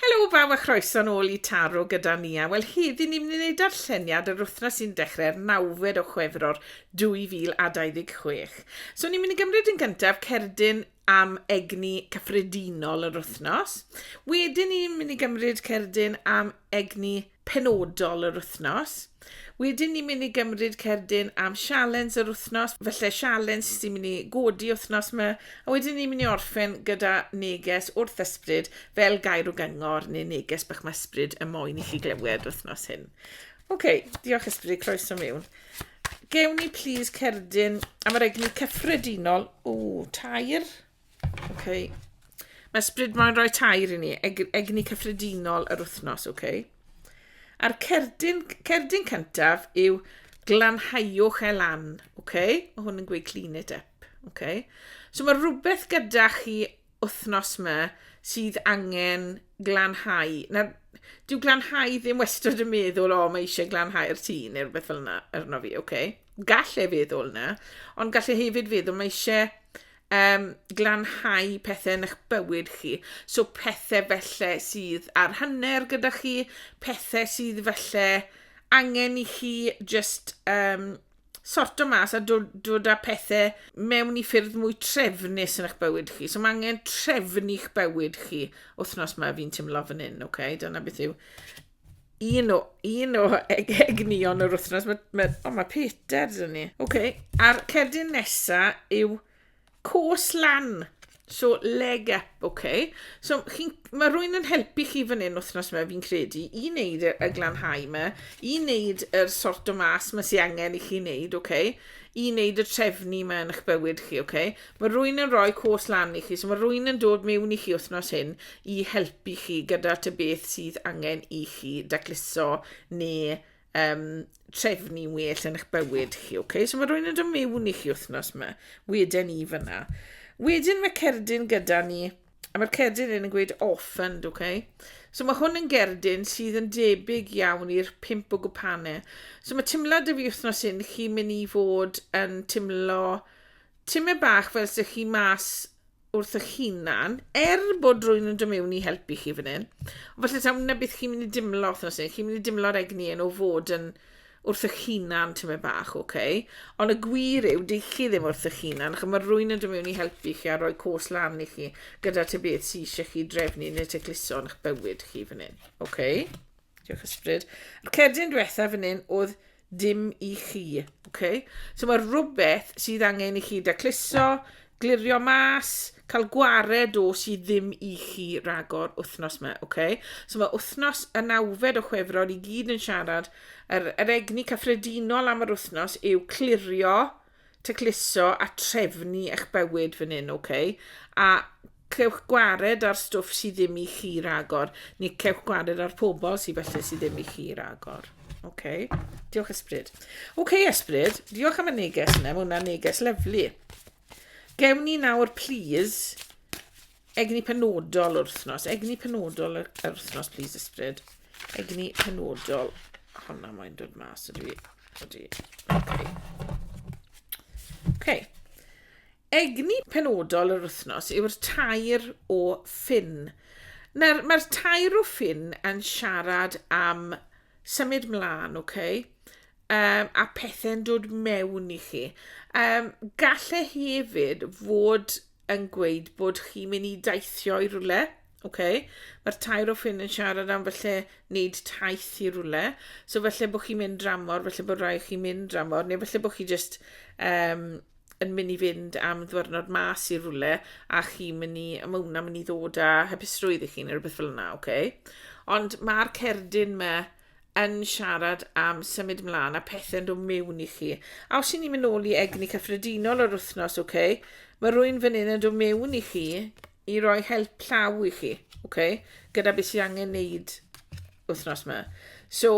Helo bawb a chroeso nôl i Taro gyda Nia. Wel heddi ni'n mynd i wneud darlleniad yr wythnos sy'n dechrau'r nawfed o Chwefror 2026. So ni'n mynd i gymryd yn gyntaf cerdyn am egni cyffredinol yr wythnos. Wedyn ni'n mynd i gymryd cerdyn am egni penodol yr wythnos. Wedyn ni'n mynd i gymryd cerdyn am sialens yr wythnos, felly sialens sy'n mynd i godi wythnos yma, a wedyn ni'n mynd i orffen gyda neges wrth ysbryd fel gair o gyngor neu neges bach mae ysbryd y moyn i chi glywed wythnos hyn. Oce, okay, diolch ysbryd, croeso mewn. Gewn ni plis cerdyn am yr egni cyffredinol. O, tair. Okay. Mae Sbryd Moyn rhoi tair i ni, eg egni cyffredinol yr wythnos, oce? Okay? A'r cerdyn, cerdyn cyntaf yw glanhaiwch e lan, oce? Okay? Mae hwn yn gweud clean it up, oce? Okay? So mae rhywbeth gyda chi wythnos yma sydd angen glanhau. Na, dyw glanhau ddim wastad yn meddwl, o, oh, mae eisiau glanhau'r tŷ neu rhywbeth fel yna arno fi, oce? Okay? Gall e feddwl yna, ond gall e hefyd feddwl mae eisiau um, glanhau pethau yn eich bywyd chi. So pethau felly sydd ar hanner gyda chi, pethau sydd felly angen i chi just um, sorto mas a dod, dod â pethau mewn i ffyrdd mwy trefnus yn eich bywyd chi. So mae angen trefnu'ch bywyd chi wythnos mae fi'n teimlo fan hyn, oce? Okay? Dyna beth yw un o, un o eg egnion yr wythnos. Mae, mae, o, mae Peter dyn ni. Oce, okay. a'r cerdyn nesa yw cwrs lan. So, leg up, oce. Okay. So, chi, mae rwy'n yn helpu chi fan hyn wythnos yma, fi'n credu, i wneud y, y glanhau yma, i wneud yr sort o mas mae sy'n angen i chi wneud, oce. Okay. I wneud y trefnu yma yn eich bywyd chi, oce. Okay. Mae rwy'n yn rhoi cwrs lan i chi, so mae rwy'n yn dod mewn i chi wythnos hyn i helpu chi gyda ta beth sydd angen i chi dacluso neu um, trefnu well yn eich bywyd chi, okay? So mae rwy'n yn dod mewn i chi wythnos yma, wedyn i fyna. Wedyn mae cerdyn gyda ni, a mae'r cerdyn yn gweud orphaned, okay? So mae hwn yn gerdyn sydd yn debyg iawn i'r pimp o gwpane. So mae timlad y fi wythnos hyn, chi'n mynd i fod yn timlo Tymed bach fel sych chi mas wrthych hunan, er bod rwy'n yn dymewn i helpu chi fan hyn. Ond falle tawn na beth chi'n mynd i dimlo wrthnos hyn, chi'n mynd i dimlo'r egni yn o fod yn wrthych hunan tymed bach, oce? Okay? Ond y gwir yw, dych chi ddim wrthych hunan, achos mae rwy'n yn dymewn i helpu chi a rhoi cwrs lan i chi gyda ty beth sy'n eisiau chi drefnu neu te cluso yn eich bywyd chi fan hyn, oce? Okay? Diolch ysbryd. A'r cerdyn diwetha fan hyn oedd dim i chi, ok? So mae rhywbeth sydd angen i chi dacluso, glirio mas, cael gwared o sydd ddim i chi ragor wythnos yma, ok? So mae wythnos y nawfed o chwefror i gyd yn siarad, yr, yr egni cyffredinol am yr wythnos yw clirio, tacluso a trefnu eich bywyd fan hyn, ok? A cewch gwared ar stwff sydd ddim i chi ragor, neu cewch gwared ar pobl sydd felly sydd ddim i chi ragor. Ok, diolch ysbryd. Ok ysbryd, diolch am y neges yna, mae hwnna'n neges lyflu. Gewn ni nawr, please, Egni penodol yr wythnos. Egni penodol yr, yr wythnos, please ysbryd. Egni penodol. Honna mae'n dod mas ydw i. Ydw i. Okay. okay. Egni penodol yr wythnos yw'r tair o ffin. Mae'r mae tair o ffin yn siarad am symud mlaen, oce? Okay? Um, a pethau'n dod mewn i chi. Um, galle hefyd fod yn gweud bod chi'n mynd i daithio i rwle, oce, mae'r tair o ffrind yn siarad am felly wneud taith i rwle, so felly bod chi'n mynd dramor, felly bod rhaid chi'n mynd dramor, neu felly bod chi jyst um, yn mynd i fynd am ddwrnod mas i rwle, a chi'n mynd i, a mae hwnna'n mynd i ddod â hapusrwydd i chi, neu rhywbeth fel yna, oce. Ond mae'r cerdyn mae yn siarad am symud mlaen a pethau'n dod mewn i chi. A os i ni'n mynd nôl i egni cyffredinol yr wythnos, okay, mae rwy'n fan hyn yn dod mewn i chi i roi help llaw i chi, okay, gyda beth sy'n angen neud wythnos yma. So,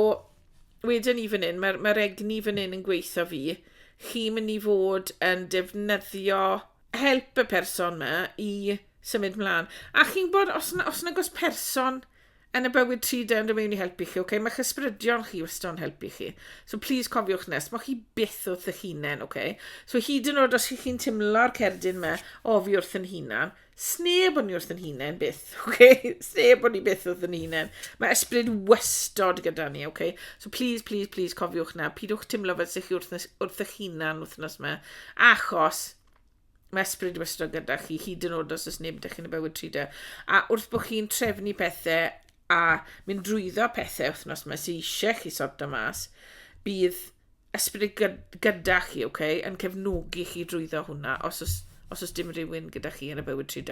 wedyn ni fan hyn, mae'r mae egni fan hyn yn gweithio fi, chi'n mynd i fod yn defnyddio help y person yma i symud mlaen. A chi'n bod, os yna, os yna gos person yn y bywyd tri dyn yn mewn i helpu chi, okay? Mae'ch ysbrydion chi wastad yn helpu chi. So please cofiwch nes, mae chi byth wrth eich hunain, okay? So hyd yn oed os ych chi'n timlo'r cerdyn me, o fi wrth yn hunan, sneb o'n i wrth yn hunain byth, okay? Sneb o'n i byth wrth yn hunain. Mae ysbryd wastad gyda ni, okay? So please, please, please cofiwch na, pidwch timlo fel sy'ch chi wrth, wrth eich hunan wythnos me, achos Mae ysbryd wastad gyda chi, hyd yn oed os oes neb ydych chi'n y bywyd trwy A wrth bod chi'n trefnu pethau a mynd drwyddo pethau wythnos mae sy'n eisiau chi sorto mas, bydd ysbryd gyda chi, okay, yn cefnogi chi drwyddo hwnna, os oes, os oes dim rhywun gyda chi yn y bywyd trwy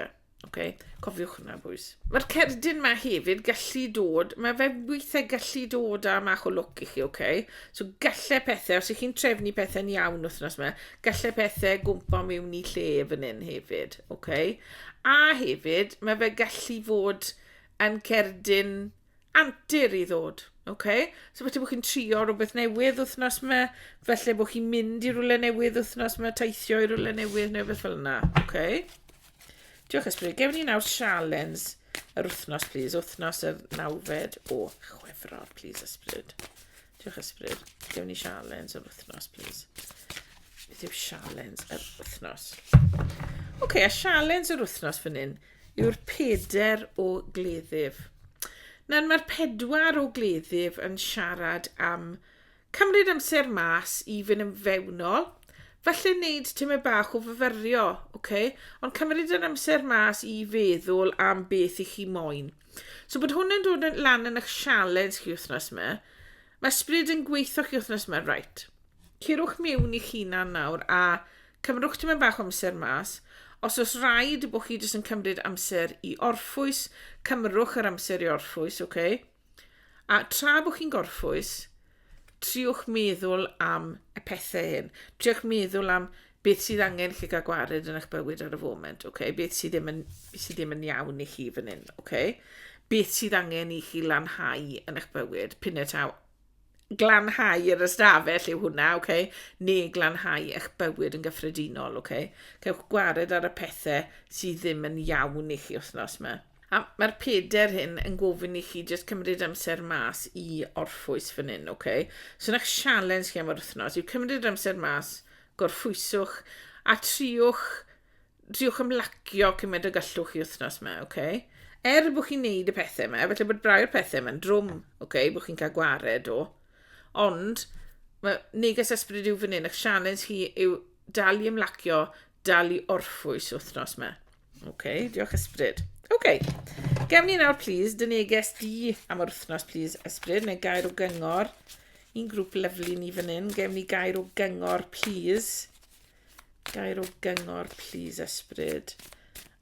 Ok, cofiwch hwnna, bwys. Mae'r cerdyn ma hefyd gallu dod, mae fe weithiau gallu dod â mach o look i chi, ok? So gallu pethau, os ych chi'n trefnu pethau'n iawn wythnos yma, gallu pethau gwmpa mewn i lle fan hyn hefyd, ok? A hefyd, mae fe gallu fod yn cerdyn antur i ddod, ok? So falle bod chi'n trio rhywbeth newydd wythnos yma, falle bod chi'n mynd i rhywle newydd wythnos yma, teithio i rhywle newydd neu beth fel yna, ok? Diolch ysbryd. Gewn ni nawr sialens yr wythnos, please. Wythnos yr nawfed o chwefror, please, ysbryd. Diolch Ysbryd. Gewn ni sialens yr wythnos, please. Beth yw sialens yr wythnos? Oce, okay, a sialens yr wythnos fan hyn yw'r peder o gleddyf. Nawr mae'r pedwar o gleddyf yn siarad am cymryd amser mas i fynd yn fewnol, falle wneud tymed bach o fyfyrio, okay? ond cymryd yr amser mas i feddwl am beth i chi moyn. So bod hwn yn dod lan yn eich sialens chi wythnos yma. Mae sbrid yn gweithio chi wythnos yma, right. Cirwch miwn i chi na nawr a cymrwch ti'n bach o amser mas. Os oes rhaid bod chi jyst yn cymryd amser i orffwys, cymrwch yr amser i orffwys, oce? Okay? A tra bod chi'n gorffwys, triwch meddwl am y pethau hyn. Triwch meddwl am beth sydd angen chi gael gwared yn eich bywyd ar y foment, okay? beth sydd ddim yn, beth sydd ddim yn iawn i chi fan hyn, okay? beth sydd angen i chi lanhau yn eich bywyd, pyn y taw. Glanhau yr ystafell yw hwnna, okay? neu glanhau eich bywyd yn gyffredinol. Okay? Cewch gwared ar y pethau sydd ddim yn iawn i chi wythnos yma. A mae'r peder hyn yn gofyn i chi jyst cymryd amser mas i orffwys fan hyn, ok? So na'ch sialens chi am yr wythnos yw cymryd amser mas, gorffwyswch a triwch triwch ymlacio cymaint o gallwch chi wythnos yma, ok? Er bod chi'n neud y pethau yma, felly bod brau'r pethau yma'n drwm, ok? Bod chi'n cael gwared o. Ond, mae neges ysbryd yw fan hyn, eich sialens chi yw dal i ymlacio, dal i orffwys wythnos yma. OK, diolch Ysbryd. OK, gefn ni nawr, please, dy neges di am yr wythnos, please, Ysbryd, neu gair o gyngor. Un grŵp lyflu ni fan hyn, gefn ni gair o gyngor, please. Gair o gyngor, please, Ysbryd,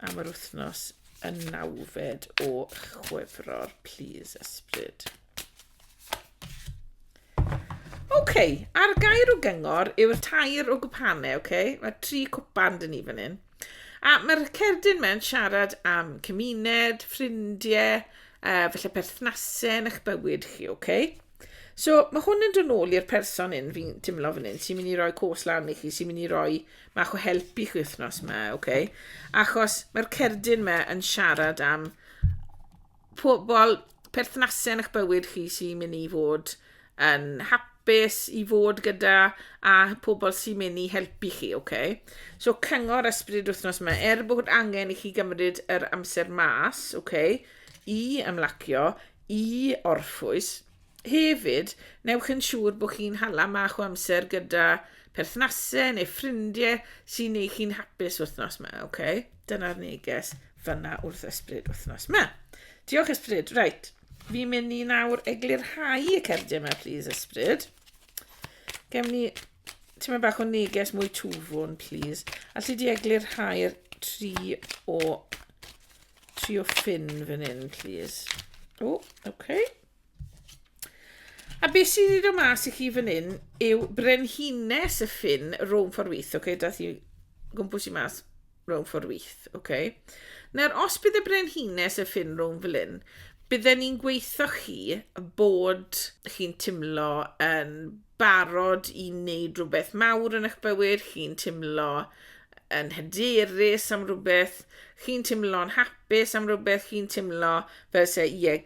am yr wythnos yn nawfed o chwefror, please, Ysbryd. OK, a'r gair o gyngor yw'r tair o gwpane, OK? Mae tri cwpan dyn ni fan hyn. A mae'r cerdyn mewn siarad am cymuned, ffrindiau, uh, felly perthnasau yn eich bywyd chi, OK? So, mae hwn yn dod nôl i'r person un fi'n teimlo fan hyn sy'n mynd i roi cwrs lan i chi, sy'n mynd i roi mach o help i chi wythnos yma, OK? Achos mae'r cerdyn yma yn siarad am pobl, perthnasau yn eich bywyd chi sy'n mynd i fod yn hapus i fod gyda a pobl sy'n mynd i helpu chi, oce? Okay? So cyngor ysbryd wythnos yma, er bod angen i chi gymryd yr amser mas, oce, okay, i ymlacio, i orffwys, Hefyd, newch yn siŵr bod chi'n hala mach o amser gyda perthnasau neu ffrindiau sy'n ei chi'n hapus wythnos yma, oce? Okay? Dyna'r neges fyna wrth ysbryd wythnos yma. Diolch ysbryd, reit. Fi'n mynd i nawr eglurhau y cerdyn yma, please ysbryd. Gem ni tyma bach o neges mwy twfwn, please. A lle di eglurhau'r tri o trio ffin fan hyn, please. O, oh, oce. Okay. A beth sydd wedi dod mas i chi fan hyn yw brenhines y ffin rhwng ffordd wyth, oce? Okay? Dath i gwmpws i mas rhwng ffordd wyth, oce? Okay? Nawr, os bydd y brenhines y ffin rhwng fel hyn, bydden ni'n gweithio chi bod chi'n timlo yn barod i wneud rhywbeth mawr yn eich bywyd, chi'n timlo yn hyderus am rhywbeth, chi'n teimlo'n hapus am rhywbeth, chi'n teimlo fel se, ie,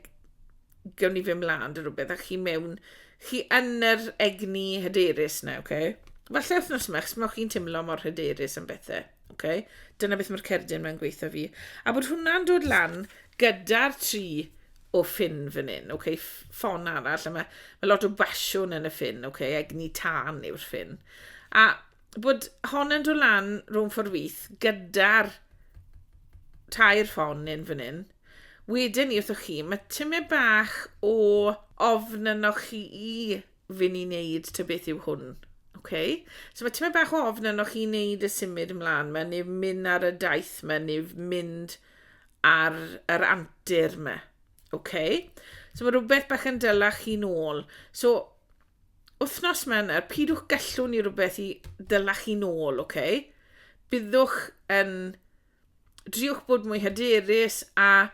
gawn ni fy mlaen dy rhywbeth, a chi mewn, chi yn yr egni hyderus na, oce? Okay? Falle wythnos yma, chos mae chi'n teimlo mor hyderus am bethau, oce? Okay? Dyna beth mae'r cerdyn mae'n gweithio fi. A bod hwnna'n dod lan gyda'r tri o ffyn fan hyn, oce? Okay? Ffon arall, a mae, mae lot o basiwn yn y ffyn, oce? Okay? Egni tân yw'r ffyn. A bod hon yn dod lan rhwng ffordd wyth gyda'r tair ffon yn fan hyn. Wedyn ni wrthoch chi, mae tymed bach o ofn ynoch chi i fyn i wneud ty beth yw hwn. Okay. So mae tymed bach o ofn ynoch chi wneud y symud ymlaen yma, neu mynd ar y daith yma, neu mynd ar yr antur yma. Okay. So mae rhywbeth bach yn dylach chi'n ôl. So Wythnos Mercher, pidwch gallu ni rhywbeth i dyla chi nôl, oce? Okay? Byddwch yn... Driwch bod mwy hyderus a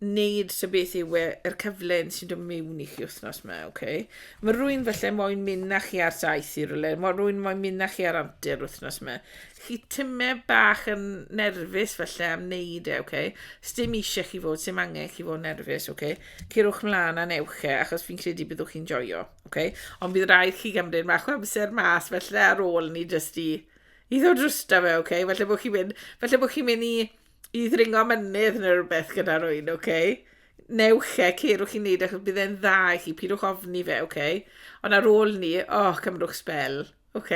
wneud sy beth yw e'r cyfle sy'n dod mewn i chi wythnos yma, oce? Okay? Mae rwy'n felly moyn mynd na chi ar daith i rywle, mae rwy'n moyn mynd na chi ar antur wythnos yma. Chi tyme bach yn nerfus felly am wneud e, oce? Okay? Sdim eisiau chi fod, sy'n angen chi fod nerfus, oce? Okay? Cerwch mlaen a newch e, achos fi'n credu byddwch chi'n joio, ok? Ond bydd rhaid chi gymryd mach o amser mas, felly ar ôl ni jyst i, i ddod drwsta fe, ok? Felly bod chi'n mynd, felly bod chi'n mynd i, i ddringo mynydd neu rhywbeth gyda rwy'n, ok? Newch e, cerwch chi'n neud e, achos bydd e'n dda i chi, pidwch ofni fe, ok? Ond ar ôl ni, o, oh, cymrwch spel, ok?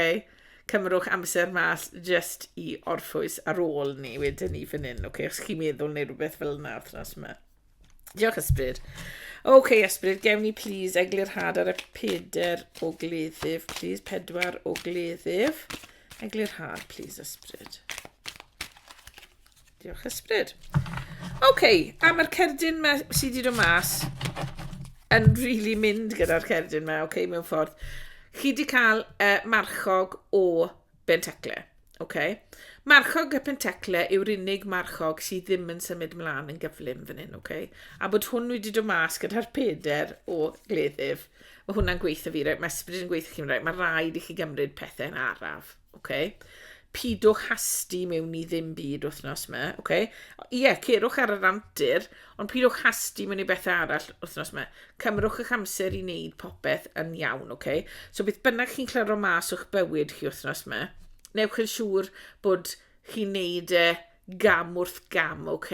Cymrwch amser mas jyst i orffwys ar ôl ni wedyn ni fan hyn, ok? Os chi'n meddwl neu rhywbeth fel yna, thras yma. Diolch, Ysbryd. OK, Ysbryd, gewn ni please eglurhad ar y peder o gleddyf. Please, pedwar o gleddyf. Eglurhad, please, Ysbryd. Diolch, Ysbryd. OK, a mae'r cerdyn ma sydd wedi dod mas yn rili really mynd gyda'r cerdyn ma, OK, mewn ffordd. Chi wedi cael uh, marchog o Benteclle. OK. Marchog y penteclle yw'r unig marchog sydd ddim yn symud mlaen yn gyflym fan hyn, OK. A bod hwn wedi dod mas gyda'r peder o gleddyf. Mae hwnna'n gweithio fi, right? mae ysbryd yn gweithio chi'n right? mae rhaid i chi gymryd pethau'n araf, OK. Pidwch hasti mewn i ddim byd wythnos yma, OK. Ie, yeah, cerwch ar yr antur, Ond pidwch hasti mewn i bethau arall wythnos yma. Cymrwch eich amser i wneud popeth yn iawn, ok? So beth bynnag chi'n clyro mas o'ch bywyd chi wythnos yma, newch yn siŵr bod chi'n neud e gam wrth gam, ok?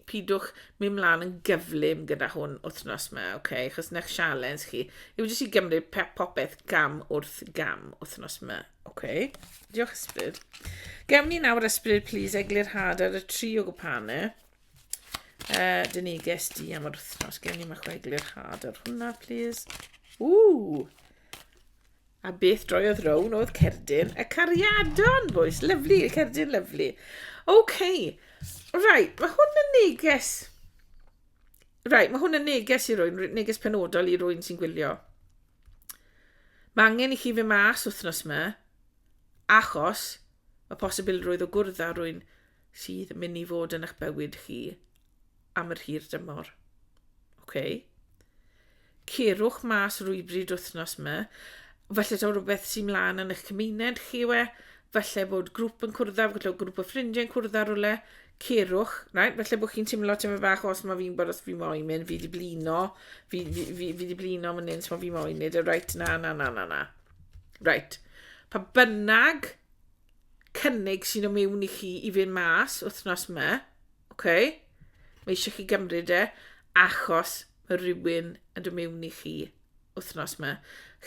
Pidwch mynd mlaen yn gyflym gyda hwn wythnos yma, ok? Chos ne'ch sialens chi yw jyst i gymryd popeth gam wrth gam wythnos yma, ok? Diolch ysbryd. Gewn ni nawr ysbryd, please, eglurhad ar y tri o gwpane. Uh, dyn ni ges di am yr wythnos. Gen i mae chwe glirchad ar hwnna, please. Ww! A beth droiodd rown oedd cerdyn y cariadon, boys. Lyflu, y cerdyn lyflu. OK. Rai, mae hwn yn neges... Rai, mae hwn yn neges i rwy'n, neges penodol i rwy'n sy'n gwylio. Mae angen i chi fe mas wythnos yma, achos y posibilrwydd o gwrdd â rwy'n sydd mynd i fod yn eich bywyd chi am yr hir dymor. Okay? Cerwch mas rwybryd wythnos yma. Felly taw rhywbeth sy'n mlaen yn eich cymuned chi we, felly bod grŵp yn cwrdd â, felly grŵp o ffrindiau yn cwrdd â rhywle, cerwch, right? felly bod chi'n teimlo teimlo bach os mae fi'n bod os fi moyn mynd, fi di blino, fi, fi, fi, fi di blino mynd un, so fi moyn mynd, right, na, na, na, na, na. Right. Pa bynnag cynnig sy'n o mewn i chi i fynd mas wythnos yma, oce? Mae eisiau chi gymryd e, achos mae rhywun yn dod mewn i chi wythnos yma.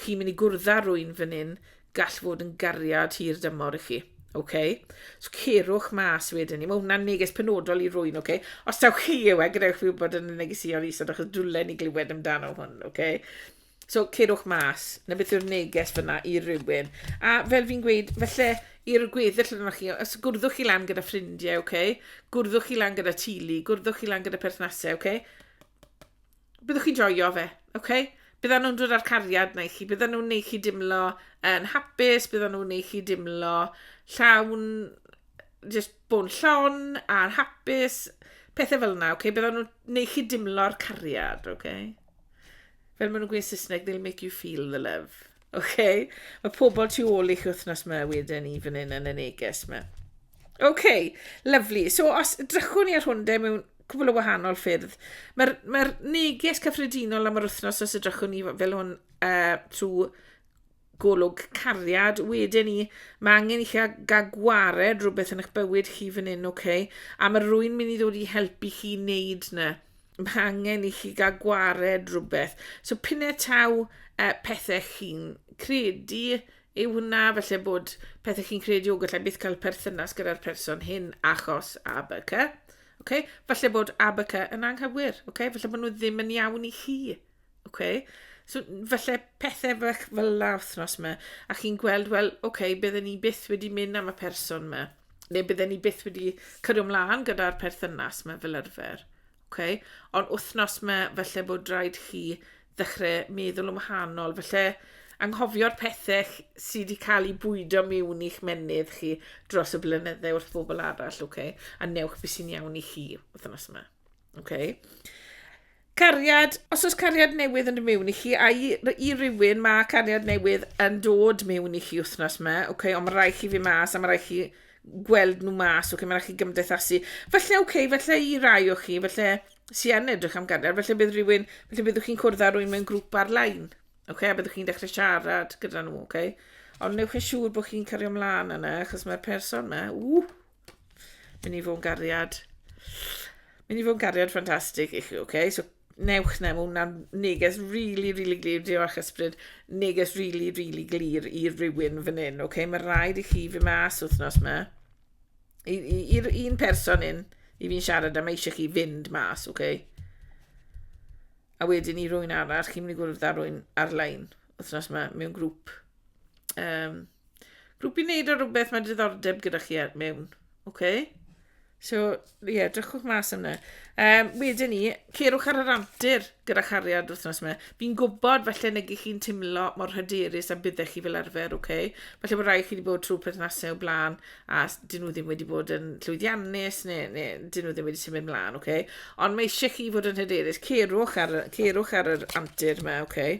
Chi'n mynd i gwrdd rwy'n fan hyn, gall fod yn gariad hir dymor i chi. Okay. So cerwch mas wedyn ni. Mae hwnna'n neges penodol i rwy'n, okay? Os taw chi yw e, gadewch fi wybod yn y negesïon isod, achos dwlen ni glywed amdano hwn, okay? So, cerwch mas, na beth yw'r neges fyna i rywun. A fel fi'n gweud, felly, i'r gweddill yna chi, os gwrddwch chi lan gyda ffrindiau, oce? Okay? Gwrddwch chi lan gyda tulu, gwrddwch chi lan gyda perthnasau, oce? Okay? Byddwch chi'n joio fe, oce? Okay? Bydda nhw'n dod â'r cariad na i chi, bydda nhw'n neud chi dimlo yn hapus, bydda nhw'n neud chi dimlo llawn, just bod llon a'n hapus, pethau fel yna, oce? Okay? Bydda nhw'n neud chi dimlo'r cariad, oce? Okay? Fel maen nhw'n gweud Saesneg, they'll make you feel the love. OK? Mae pobl tu ôl i'ch wythnos yma wedyn ni fan hyn yn y neges yma. OK, lovely. So os drychwn ni ar hwn de mewn cwbl o wahanol ffyrdd, mae'r mae neges cyffredinol am yr wythnos os ydrychwn ni fel hwn uh, trwy Golwg cariad wedyn ni, mae angen i chi gael gwared rhywbeth yn eich bywyd chi fan hyn, ok? A mae rwy'n mynd i ddod i helpu chi wneud na. Mae angen i chi gael gwared rhywbeth. So pinne taw uh, pethau chi'n credu yw hwnna, felly bod pethau chi'n credu o gallai byth cael perthynas gyda'r person hyn achos ABK. Okay? Falle bod ABK yn anghywir, okay? falle bod nhw ddim yn iawn i chi. Oce. So n- falle pethe fach fel 'na wthnos 'ma a chi'n gweld wel oce bydden ni byth wedi mynd am y person 'ma neu bydden ni byth wedi cario mlan gyda'r perthynas 'ma fel arfer. Oce. Ond wthnos 'ma falle bod raid chi ddechre meddwl yn wahanol falle anghofio'r pethe ch- sy' 'di ca'l 'u bwydo miwn i'ch menydd chi dros y blynydde wrth bobol arall oce a newch be' sy'n iawn i chi wthnos 'ma. Oce. Cariad, os oes cariad newydd yn mewn i chi, a i, i rywun mae cariad newydd yn dod mewn i chi wythnos yma, okay, ond mae rhaid chi fi mas, a mae rhaid chi gweld nhw mas, okay, mae rhaid chi gymdeithasu. Felly, okay, felly i rai o chi, felly sy'n yn edrych am gariad, felly bydd rhywun, felly byddwch chi'n cwrdd â rhywun mewn grŵp ar-lein, okay, a byddwch chi'n dechrau siarad gyda nhw, okay. Ond newch yn siŵr bod chi'n cario ymlaen yna, achos mae'r person yma, ww, Mynd i fod yn gariad. Mynd i fod yn gariad ffantastig i chi, oce? Okay? So, newch na, mae hwnna'n neges really, really glir, diolch ysbryd, neges really, really glir i rywun fan hyn, oce? Okay? Mae rhaid i chi fy mas wythnos yma, i'r un person un, i fi'n siarad am eisiau chi fynd mas, oce? Okay? A wedyn i rwy'n arall, chi'n mynd i gwrdd â rwy'n ar-lein, wythnos yma, mewn grŵp. Um, Grwp i wneud ar rhywbeth mae diddordeb gyda chi ar mewn. OK? So, ie, yeah, drychwch mas yna. Um, wedyn ni, cerwch ar yr antur gyda chariad wythnos yma. Fi'n gwybod falle negu chi'n timlo mor hyderus a byddech chi fel arfer, oce? Okay? Falle bod rhai chi wedi bod trwy perthnasau o blaen a dyn nhw ddim wedi bod yn llwyddiannus neu, neu dyn nhw ddim wedi symud mlaen, oce? Okay? Ond mae eisiau chi fod yn hyderus. Cerwch ar, cerwch ar yr antur yma, oce? Okay?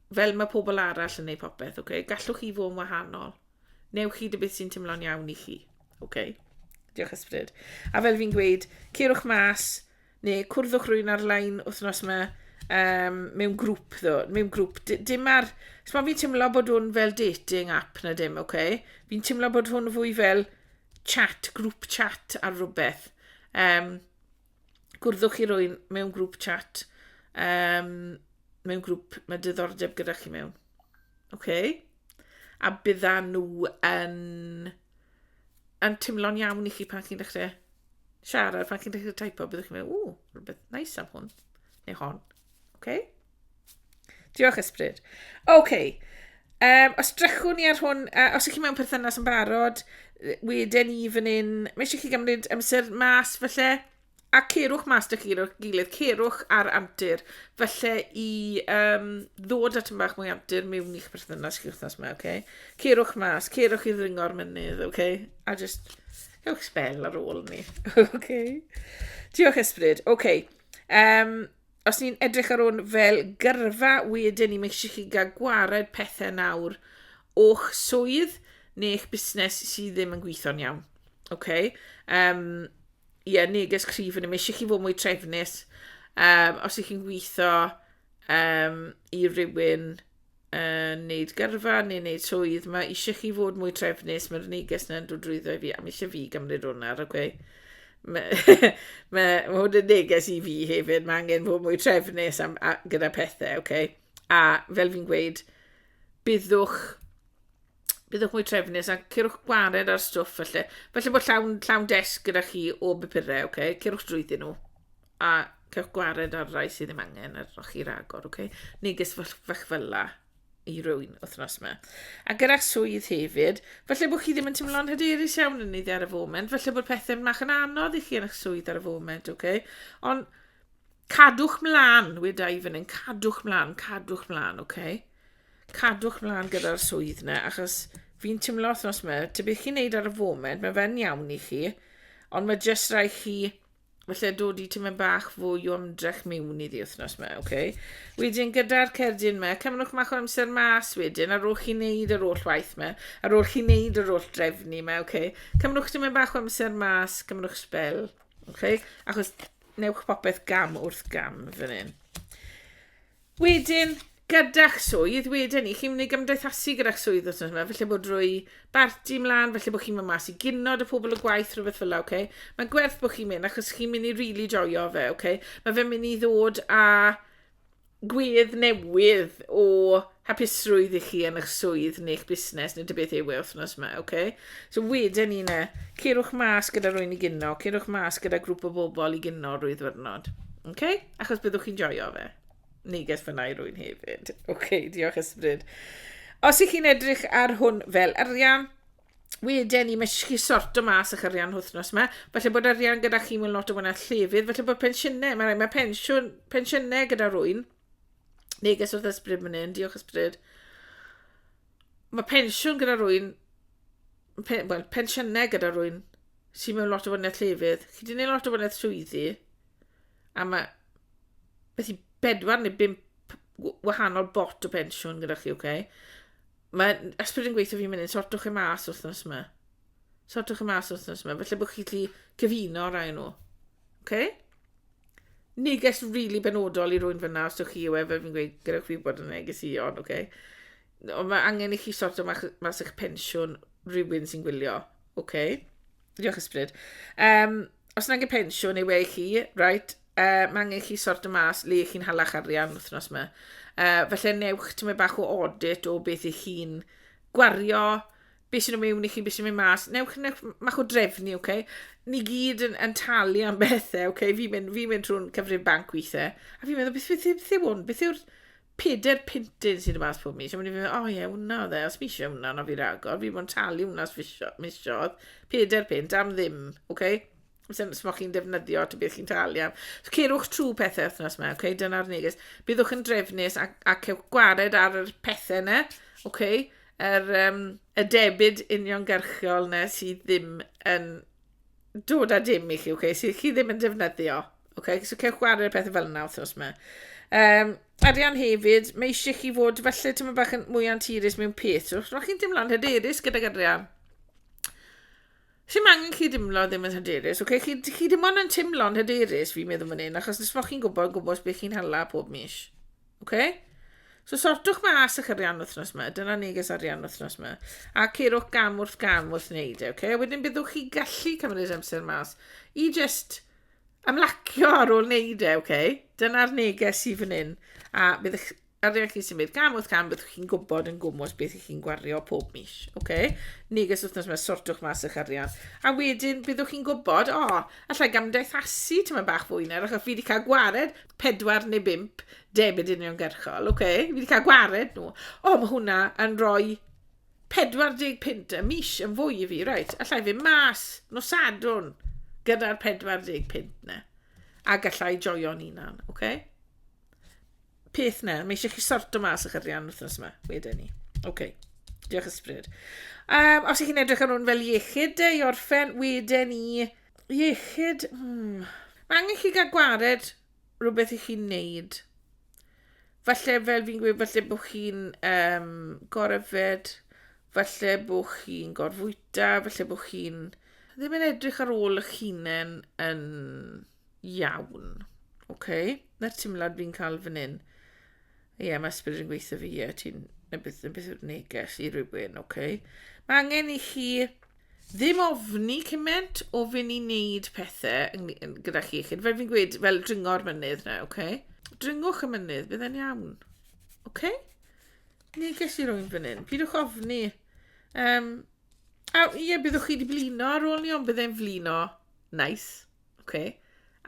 fel mae pobl arall yn neud popeth, oce? Okay? Gallwch chi fod yn wahanol. Newch chi dy beth sy'n teimlo'n iawn i chi. Oce? Okay? Diolch ysbryd. A fel fi'n gweud, cerwch mas, neu cwrddwch rwy'n ar-lein wythnos yma, um, mewn grŵp ddo, mewn grŵp. Dim ar... Sma fi'n teimlo bod hwn fel dating app na dim, oce? Okay? Fi'n teimlo bod hwn fwy fel chat, grŵp chat ar rhywbeth. Um, gwrddwch chi rwy'n mewn grŵp chat, um, mewn grŵp mae diddordeb gyda chi mewn. Okay? A bydda nhw yn, yn teimlo'n iawn i chi pan chi'n dechrau siarad, pan chi'n dechrau typo, byddwch chi'n meddwl, ww, rhywbeth nice am hwn, neu hon. Okay? Diolch, Ysbryd. Oce. Okay. Um, os drychwn ni ar hwn, uh, os ych chi mewn perthynas yn barod, wedyn ni fan hyn, mae eisiau chi gymryd amser mas felly, a cerwch mas dych chi'n gilydd, cerwch ar antur, felly i um, ddod at yn bach mwy antur mewn i'ch perthynas chi wrthnos yma, oce? Okay? Cerwch mas, cerwch i ddringo'r mynydd, oce? Okay? A just, cewch spel ar ôl ni, oce? Okay? Diolch ysbryd, oce. Okay. Um, Os ni'n edrych ar hwn fel gyrfa wedyn ni, mae eisiau chi gael gwared pethau nawr o'ch swydd neu'ch busnes sydd ddim yn gweithio'n iawn. Okay? Um, ie, yeah, neges cryf yn y eisiau chi fod mwy trefnus. Um, os ych chi'n gweithio um, i rywun uh, wneud gyrfa neu wneud swydd, mae eisiau chi fod mwy trefnus, mae'r neges yna'n dod drwyddo i fi, a mae eisiau fi gymryd hwnna ar, oce? Okay? Mae ma, hwn yn neges i fi hefyd, mae angen fod mwy trefnus am, a, gyda pethau, oce? Okay? A fel fi'n gweud, byddwch byddwch mwy trefnus a cyrwch gwared ar stwff felly. Felly bod llawn, llawn desg gyda chi o bupurau, okay? cyrwch drwyddyn nhw a cyrwch gwared ar rai sydd ddim angen ar o'ch chi'r agor, okay? neges fach fel la i rywun wythnos yma. A gyda swydd hefyd, felly bod chi ddim yn teimlo'n hyderus iawn yn iddi ar y foment, felly bod pethau'n mach yn anodd i chi yn eich swydd ar y foment, okay? ond cadwch mlaen, weda i fan hyn, cadwch mlaen, cadwch mlaen, okay? Cadwch mlaen gyda'r swydd yna, achos fi'n timlo wythnos yma, ty beth chi'n neud ar y foment, mae fe'n iawn i chi, ond mae jyst rai chi, felly dod i tyma'n bach fwy o ymdrech miwn i ddi wythnos yma, oce? Okay? Wedyn gyda'r cerdyn yma, cymrwch mach o amser mas wedyn, ar ôl chi'n neud yr oll waith yma, ar ôl chi'n neud yr oll drefnu yma, oce? Okay? Cymrwch tyma'n bach o amser mas, cymrwch spel, oce? Okay? Achos newch popeth gam wrth gam fan hyn. Wedyn, gyda'ch swydd, wedyn 'ny, chi'n mynd i gymdeithasu gyda'ch swydd wythnos yma, felly bod drwy barti mlaen, felly bod chi'n mynd mas i gino dy pobl y gwaith, rhywbeth fel 'na, oce? Mae'n gwerth bod chi'n mynd, achos chi'n mynd i rili joio fe, oce? Mae fe'n mynd i ddod â gwedd newydd o hapusrwydd i chi yn eich swydd neu'ch busnes neu dy beth yw e wythnos yma, oce? So wedyn ni ne, cerwch mas gyda rwy'n i gyno, cerwch mas gyda grŵp o bobl i gyno rwy'n ddwrnod. OK? Achos byddwch chi'n joio fe. Neges fyna i rwy'n hefyd. OK, diolch ysbryd. Os ych chi'n edrych ar hwn fel arian, wedyn ni, mae chi sorto mas eich arian hwthnos yma. Felly bod arian gyda chi mewn lot o fwyna llefydd. Felly bod pensiynau, mae, mae pensiwn, pensiynau gyda rwy'n. Neges wrth ysbryd mynd hyn, diolch ysbryd. ma' pensiwn gyda rwyn pe- wel pensiynne gyda rwyn sy mewn lot o fwynedd llefydd, chi 'di neud lot o fwynedd swyddi a ma' beth i bedwar neu bump w- wahanol bot o pensiwn gyda chi, oce? Okay? Mae ysbryd yn gweithio fi'n mynd i'n sortwch e mas wythnos yma. Sortwch e mas wythnos yma, felly bod chi gallu cyfuno rai nhw. Oce? Okay? neges rili benodol i rywun fyna, os ywch chi yw e, fe fi'n gweud, gyda chi bod yn negesion, oce? Ond mae angen i chi sort o mas eich pensiwn rhywun sy'n gwylio, oce? Diolch ysbryd. Um, os yna angen pensiwn yw e i chi, right, uh, mae angen i chi sort o mas le i chi'n halach arian wythnos yma. Uh, felly newch ti'n mynd bach o audit o beth i chi'n gwario, be sy'n mynd mewn i chi, be sy'n mynd mas, newch, newch mach o drefnu, oce? Okay? Ni gyd yn, yn talu am bethau, oce? Okay? Fi'n mynd, fi mynd trwy'n cyfrif banc weithiau, a fi'n meddwl, beth, beth, beth, beth yw hwn? Beth yw'r peder pintyn sy'n y mas pob mis? A mynd i'n meddwl, o oh, ie, yeah, hwnna oedd e, os mi eisiau hwnna, na fi ragor, fi bod yn talu hwnna os fi misiodd, peder pint am ddim, oce? Okay? sy'n smoch chi'n defnyddio to beth chi'n talu am. So, cerwch trwy pethau wythnos yma, okay? dyna'r neges. Byddwch yn drefnus ac, ac cewch gwared ar y pethau yna, okay? er, um, y debyd uniongyrchiol yna sydd ddim yn dod â dim i chi, okay? sydd chi ddim yn defnyddio. Okay? So cewch gwared y pethau fel yna wythnos yma. Um, arian hefyd, mae eisiau chi fod felly ti'n bach yn mwy anturus mewn peth. So, chi'n teimlo'n hyderus gyda'r arian. Sim angen chi dimlo ddim yn hyderus, ok? Chi, chi dim ond yn timlo'n hyderus, fi'n meddwl fan hyn, achos nes bod chi'n gwybod gwybod beth chi'n hala pob mis. Ok? So sortwch mas eich arian wythnos yma, dyna neges arian wythnos yma. A ceirwch gam wrth gam wrth wneud e, ok? A wedyn byddwch chi gallu cymryd amser mas i just ymlacio ar ôl wneud e, ok? Dyna'r neges i fan hyn. A byddwch Ar ddeg chi symud cam wrth cam byddwch chi'n gwybod yn gwmws beth ych chi'n gwario pob mis. Okay? Neges wythnos mae sortwch mas eich arian. A wedyn byddwch chi'n gwybod, o, oh, allai gamdaethasu tyma bach fwy nawr achos fi wedi cael gwared pedwar neu bimp debyd uniongyrchol. Okay? Fi wedi cael gwared nhw. O, oh, mae hwnna yn rhoi 40 pint y mis yn fwy i fi. Right, allai fi mas nos sadwn gyda'r 40 pint na. A gallai joio'n unan. Okay? peth na, mae eisiau chi sorto mas eich arian wythnos yma, wedyn ni. Oce, okay. diolch ysbryd. Um, os ych chi'n edrych ar hwn fel iechyd de, i orffen, wedyn ni, iechyd, hmm. Mae angen chi gael gwared rhywbeth i chi'n neud. Falle fel fi'n gweud, falle bod chi'n um, gorefed, falle bod chi'n gorfwyta, falle bod chi'n ddim yn edrych ar ôl eich hunain yn Iawn. OK. Na'r teimlad fi'n cael fan hyn. Ie, yeah, mae ysbryd yn gweithio fi, ie, yeah, ti'n yn beth, yn beth yw'r neges i rywun, OK. Mae angen i chi ddim ofni cymaint o fynd i wneud pethau gyda chi. Chyd, fel fi'n gweud, fel dringo'r mynydd na, oce? Okay? Dringwch y mynydd, bydd e'n iawn. Oce? Okay? Neges i rwy'n fan hyn. Pidwch ofni. Um, a ie, byddwch chi wedi blino ar ôl ni, ond bydd e'n flino. Nice. Oce?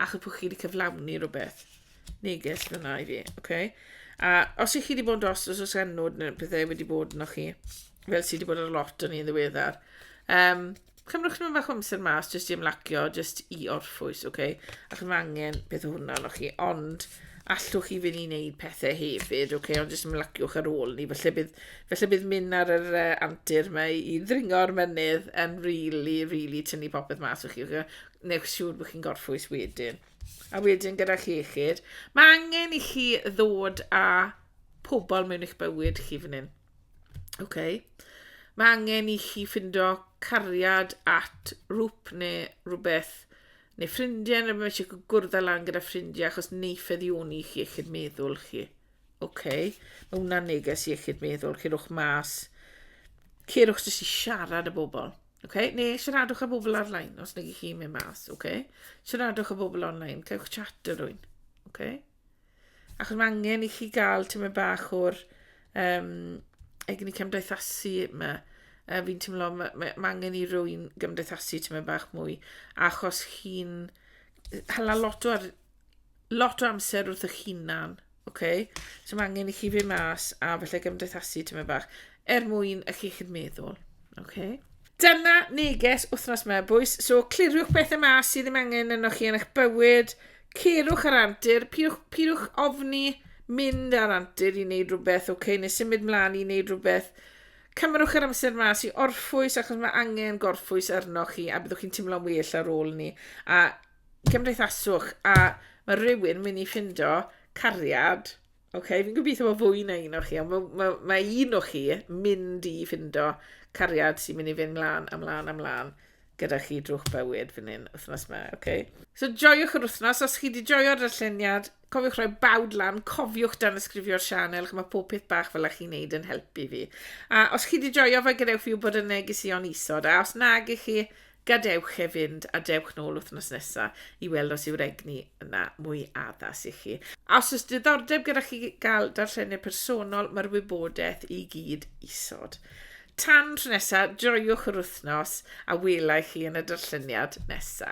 Achos bod chi wedi cyflawni rhywbeth. Neges fyna i fi. Oce? A os ych chi wedi bod yn dros os oes enw neu pethau wedi bod yno chi, fel sydd wedi bod ar lot o'n i'n ddiweddar, um, cymrwch nhw'n fach o amser mas jyst i ymlacio, jyst i orffwys, oce? Ac mae angen beth o hwnna yno chi, ond allwch chi fynd i wneud pethau hefyd, oce? Ond jyst ymlaciwch ar ôl ni. Felly bydd, felly bydd mynd ar yr uh, antur mae i ddringo'r mynydd yn rili, really, really tynnu popeth mas o'ch chi. Okay? Wnewch siŵr bod chi'n gorffwys wedyn. A wedyn gyda chi iechyd. Mae angen i chi ddod â pobl mewn eich bywyd chi fan hyn. Okay. Mae angen i chi ffindo cariad at rŵp neu rhywbeth neu ffrindiau neu mae eisiau gwrdd â lan gyda ffrindiau achos neith eddioni chi eich meddwl chi. OK, mae hwnna'n neges i eich meddwl, cerwch mas, cerwch jyst i siarad y bobl. Oce, neu siaradwch â bobl ar-lein os nag 'ych chi'n mynd mas, oce? Siaradwch â bobl on-lein, cewch chat â rhywun, oce? Achos mae angen i chi gael tymed bach o'r um, egni cymdeithasu yma. Uh, fi'n teimlo mae ma, ma angen i rywun gymdeithasu tymed bach mwy, achos chi'n hala lot o ar, lot o amser wrth eich hunan, oce? So mae angen i chi fynd mas a felly gymdeithasu tyma bach er mwyn y chi chi'n meddwl, oce? Dyna neges wythnos mae bwys, so cliriwch pethau mas sydd ddim angen yno chi yn eich bywyd, cerwch ar antur, pidwch, pidwch ofni mynd ar antur i wneud rhywbeth, oce, okay, neu symud mlaen i wneud rhywbeth. Cymrwch yr amser mas i orffwys achos mae angen gorffwys arnoch chi a byddwch chi'n teimlo'n well ar ôl ni. A cymdeithaswch a ma' rywun myn' i ffindo cariad oce fi'n gobitho bo fwy na un o chi on' ma' ma' ma' un o chi mynd i ffindo cariad sy'n myn' i fyn' mlan a mlan a mlan gyda chi drw'ch bywyd fyn 'yn wthnos 'ma oce? So joiwch yr wthnos os chi 'di joio darlleniad cofiwch roi bawd lan cofiwch danysgrifio'r sianel ch'mo' pob peth bach fel 'a chi'n neud yn helpu fi a os chi 'di joio fe gadewch fi wbod yn negesuon isod a os nag 'ych chi Gadewch e fynd a dewch nôl wythnos nesa i weld os yw'r egni yna mwy addas i chi. A os oes diddordeb gyda chi gael darllenydd personol, mae'r wybodaeth i gyd isod. Tan tro nesa, joiwch yr wythnos a welai chi yn y darlleniad nesa.